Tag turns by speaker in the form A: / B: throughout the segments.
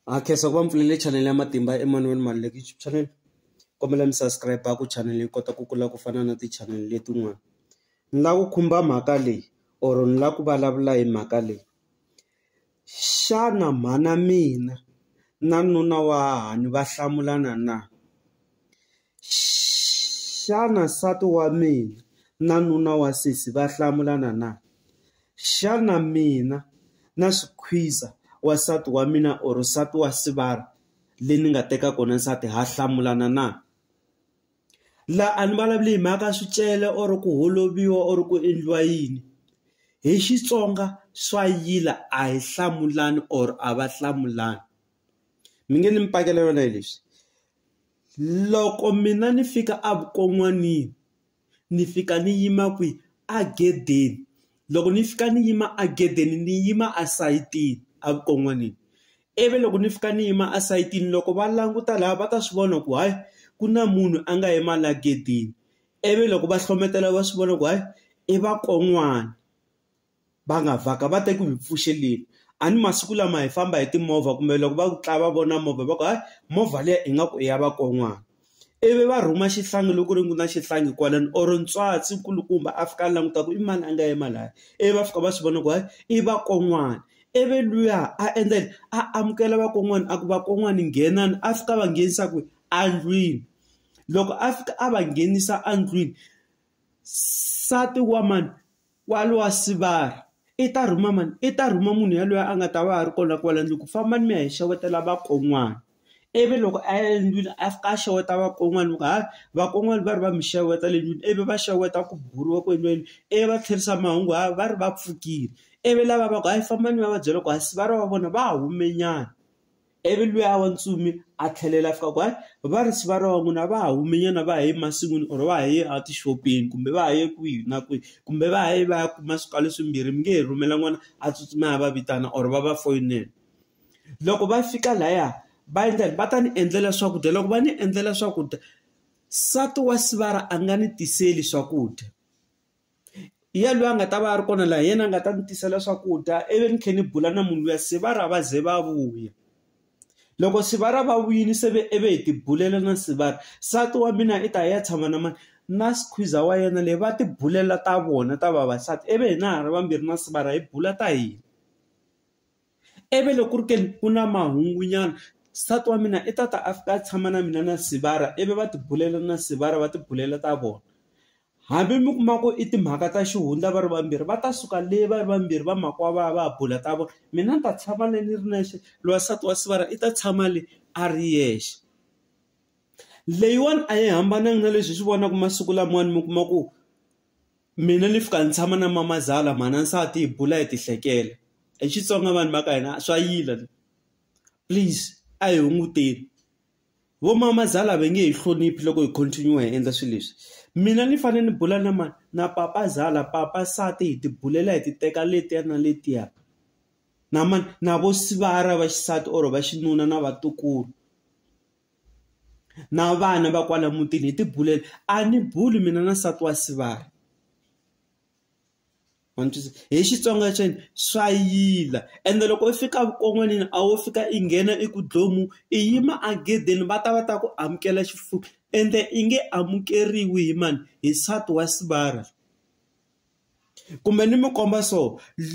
A: Ha khensa ku va mi pfulele channel ya matimba Emmanuel Maluleke YouTube channel kombela mi subscribe ku channel yi kota ku kula ku fana na ti channel letin'wana ni lava ku khumba mhaka leyi or ni lava ku vulavula hi mhaka leyi xana mhana mina na nuna wa hahani va hlamulana na Xana nsati wa mina na nuna wa sesi va hlamulana na? Xana mina na xikhwiza wa nsati wa mina or nsati wa sivara le ni nga teka kona nsati ha hlamulana na? La a ni vulavuli hi mhaka swicele or ku holoviwa or ku endliwa yini hi Xitsonga swa yila a hi hlamulani or a va hlamulani mi nge ni mi pakela yona hi leswi. Loko mina ni fika evukon'wanini, ni fika ni yima kwihi? Egedeni. Loko ni fika ni yima egedeni, ni yima esayitini evukon'wanini. Ivi loko ni fika ni yima esayitini, loko va languta lahaya va ta swi vona ku hayi, ku na munhu a nga yima laha egedeni. Ivi loko va hlohletela va swi vona ku hayi, i vakon'wana. va nga vhaka va te ku hi pfuxeleni a ni masiku lama hi famba hi timovha kumbe loko va ku tlaya va vona movha va ku hayi movha liya ingaku i ya vakon'wana ivi va rhuma xihlangi loko ri ku na xihlangi kwalano or ntswatsi nkulukumba a fika a languta ku i mani a nga yima laya ivi va fika va swi vona ku hayi i vakon'wana ivi luya a endla yini a amukela vakon'wana a ku vakon'wana nghenani a fika va nghenisa ku endlwini loko a fika a va nghenisa endlwini nsati wa mani Kwalo a sivara, i ta rhuma mani? I ta rhuma munhu yaloye a nga ta va a ri kona kwala ndlwini ku fambani mi ya hi xewetela vakon'wana. Ivi loko a ya endlwini a fika a xeweta vakon'wana loko ha vakon'wana va ri va mi xeweta le ndlwini ivi va xeweta ku buriwa ku endliwa yini, ivi va tlherisa mahungu ha va ri va pfukile. Ivi lava va ku hayi fambani mi ya va byela ku ha sivara wa vona va hume nyana. Ivi luya wa ntsumi a tlhelela a fika ku hayi varisi va rona n'wina va ha humenyana va ha ye masin'wini or va ha ye a tixopeni kumbe va ha ye kwihi na kwihi kumbe va ha ye va ya kuma swikalo swimbirhi mi nge he rhumela n'wana a tsutsuma a ya va vitana or va va foyinela loko va fika laya va endla yini va ta ni endlela swakudya loko va ni endlela swakudya nsati wa sivara a nga ni tiseli swakudya. Hi yena loyi a nga ta va a ri kona laha, hi yena a nga ta ndzi tisela swakudya ivi ni tlhela ni bula na munhu luya se va ra va ze va vuya. Loko se va ra va vuyile se ve ivi hi ti bulela na se va ra, nsati wa mina i ta ya tshama na mani? Na khwiza wa yena le, va ti bulela ta vona ta vavasati ivi hina hi ri vambirhi na se va ra hi bula ta hina. ivi loko ku ri ke ni ku na mahungu nyana nsati wa mina i ta ta a fika a tshama na mina na Sibara ivi va ti bulela na Sibara va ti bulela ta vona. Hambi mi kuma ku i timhaka ta xihundla va ri vambirhi va ta suka le va ri vambirhi va mhaka va ya va ya bula ta vona, mina ni ta tshama le ni ri nexe loyi wa nsati wa Sibara i ta tshama le a ri yexe. Leyiwani a yi hambananga na leswi hi swi vonaka masiku lamawani mi kuma ku Mina ni fika ni tshama na mamazala mhana nsati hi bula hi ti hlekela hi Xitsonga vanhu va ka hina swa yila please a hi hunguteni vo mamazala va nge he hloniphi loko hi continue hi endla swilo leswi mina ni fanele ni bula na mani na papazala papa nsati hi ti bulela hi ti teka letiya na letiya na mani na vo sivara va xisati or va xinuna na vatukulu. na vana va kwala mutini hi tibulela a ni buli mina na nsati wa sivana hi xitsonga xeni swa yila ende loko u fika vukon'wanini a wo fika i nghena i ku dlomu i yima agedeni va ta va ta ku amukela xifuku ende i nge amukeriwi hi mani hi nsati wa sivara Kumbe ni mi komba so,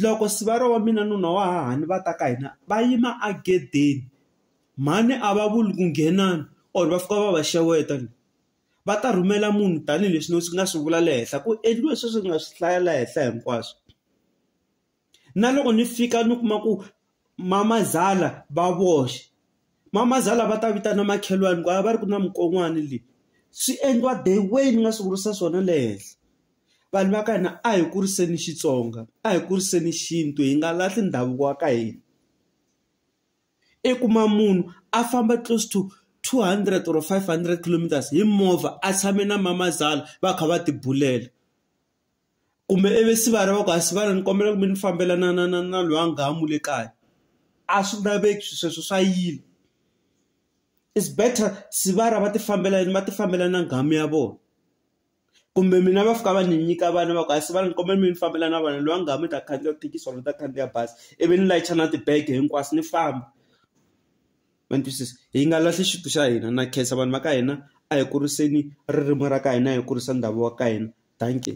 A: loko Sibariya wa mina nuna wa hahani va ta ka hina va yima egedeni, mhani a va vuli ku nghenani or va fika va va xeweta njhe. Va ta rhumela munhu tanihileswi ni nga swi vula le henhla ku endliwe sweswi ni nga swi hlaya laha henhla hinkwaswo. na loko ni fika ni kuma ku mamazala va voxe mamazala va ta vitana makhelwani ku a va ri ku na mukon'wani leyi swi endliwa the way ni nga swi vurisa swona le henhla vanhu va ka hina a hi kuriseni xitsonga a hi kuriseni xintu hi nga lahli ndhavuko wa ka hina i kuma munhu a famba close to 200 or 500 kilometers hi movha a tshame na mamazala va kha va tibulela. kumbe ivi se va lava ku a swi vana ni kombela ku mi ni fambela na na na na loyi a nga ha mu le kaya a swi laveki swi sweswo swa yila is better se va ra va ti fambela yini va ti fambela na nghamu ya vona kumbe mina va fika va ni nyika vana va ku a swi vana ni kombela mi ni fambela na vona loyi a nga ha mi ta khandziya thekisi or ni ta khandziya bazi ivi ni layicha na tibege hinkwaswo ni famba. ma ni twisisa hi nga lahli xintu xa hina na khensa vanhu va ka hina a hi kuriseni ririmi ra ka hina hi kurisa ndhavuko wa ka hina dankie.